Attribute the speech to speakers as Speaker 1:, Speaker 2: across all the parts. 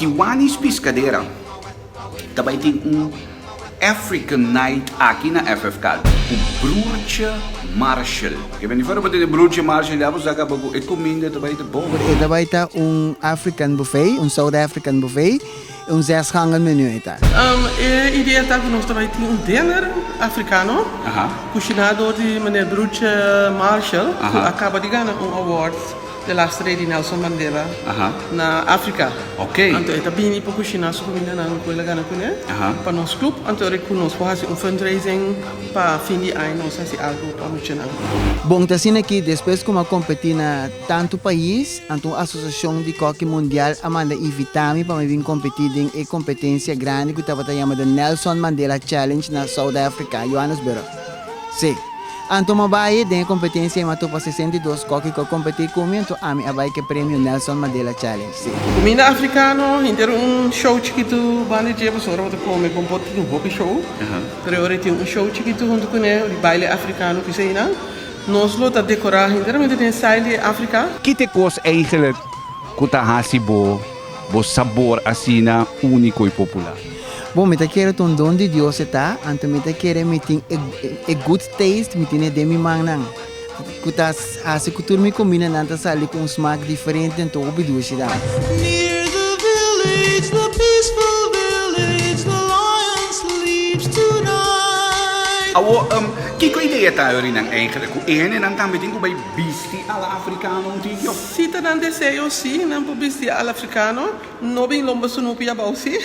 Speaker 1: Kiwanis Piscadera ta bai tin un African Night aki na FF Kaltè ku Bruce Marshall. Ke bini for bo tene Bruce Marshall ya bo sa kaba ku e kuminda ta bai ta bon. E ta bai ta un African Buffet, un South African Buffet. E un zes gangen menu ei ta. E idea ta ku nos ta bai tin un dinner afrikano kushiná dor di Meneer Bruce Marshall ku a kaba di gana un award di laster ei di Nelson Mandela na Afrika. Anto e ta bini pa kushiná su kumindanan ku el a gana kuné pa nos klup. Anto ora ku nos por hasi un fundraising pa fin di aña nos hasi algu pa muchanan. Bon, ta asina ki despues ku mi a kompetí na tantu pais Anto un asosiashon di kòki mundial a manda invitá mi pa mi bin kompetí den e kompetensia grandi ku tabata yamada Nelson Mandela Challenge na South Africa, Johannesburg. Sí, anto mi a bai den e kompetensia ei mi a topa sesenta i dos kòki ku a kompetí ku mi, anto ami a bai ku e premio Nelson Mandela Challenge. Sí. Mi na afrikano hinter un show chikitu banda dje pasobra bo ta kome kon bo tin hopi show, pero e ora e tin un show chikitu huntu kuné di baile afrikano ku eseinan. Nos lo ta decorá henteramente den style di e Africa. Kit e kos eigenlijk ku ta hasi bo bo sabor asina úniko i popular? Bon, mi ta kere ta un don di Dios e ta, anto mi ta kere mi tin e e good taste, mi tine den mi mannan, ku ta hasi ku tur mi komindanan ta sali ku un smak diferente den tur hopi ducidan. Awor, um. Kiko idea ta yori nan enkele ku e hendenan tambe tin ku bai bisti ala afrikano un tikio? Si ta nan deseo si nan por bisti ala afrikano, no bin lomba su nupi abou si.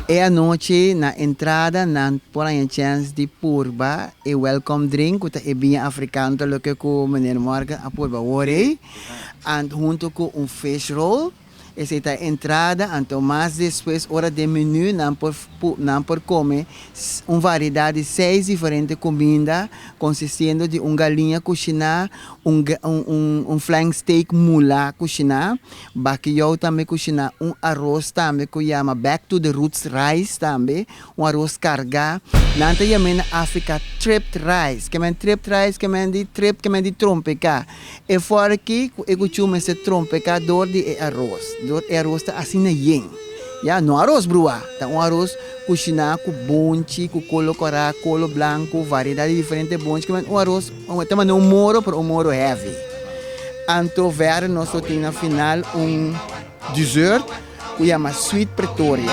Speaker 1: E anochi na entrada nan por haña chèns di purba e welkom drink ku ta e biña afrikano, ta loke ku Meneer Morgan a purba awor ei, huntu ku un fish roll. Esei ta e entrada, anto mas despues ora den menú nan por nan por kome un variedad di seis diferente kuminda konsistiendo di un galiña kushiná, un un flank steak mulá kushiná, bakijou tambe kushiná, un aros tambe ku yama back to the roots rice tambe Un aros kargá. Nan ta yam'é na Afrika tripped rice. Ke men tripped rice? Ke men di trip, ke men di trompeká. E fòrki ku e kuchú mester trompeká dor di e aros. Dor e aros ta asina yen. Ya, no aros bruá. Ta un aros kushiná ku bonchi, ku kolo korá, kolo blanku, variedat di diferente bonchi. Ke men un aros, ta mane un moro, pero un moro heavy. Anto vèr nos lo tin na final un dessert. ku yama Sweet Pretoria.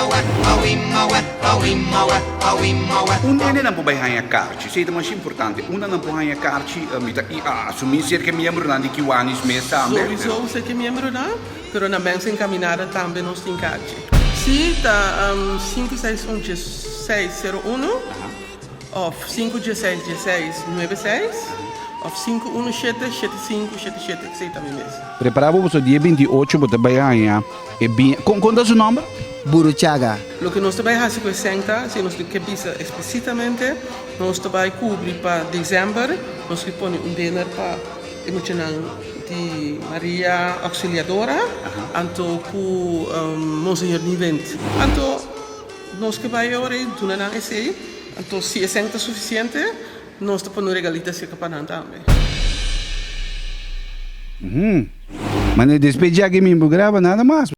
Speaker 1: Un nene nan por bai haña karchi. Esei ta masha importante. Un nan nan por haña karchi. Mi ta asumí si es ki e miembronan di Kiwanis mes tambe. Souiso si es ki e miembronan, pero na mensa enkaminada tambe nos tin karchi. Si ta sinku seis un dies seis sero uno. òf sinku dieseis dieseis nuebe seis òf sinku unu shete shete sinku shete shete esei ta mi mes. Prepará bo boso di e binti i ocho bo ta bai haña e biña. Kon kon ta su nòmber? Buruchaga. Loke nos ta bai hasi ku e sènta si nos tin ke bisa esplisitamente nos ta bai kubri pa desèmber nos ke pone un dener pa e muchanan di Maria Auxiliadora anto ku Monseñor Nivend anto Nos ke bai ora i duna nan esei, anto si esei no ta sufisiente, nos ta pone un regalita cerca pa nan tambe. Mane despe djaki min por graba nada mas.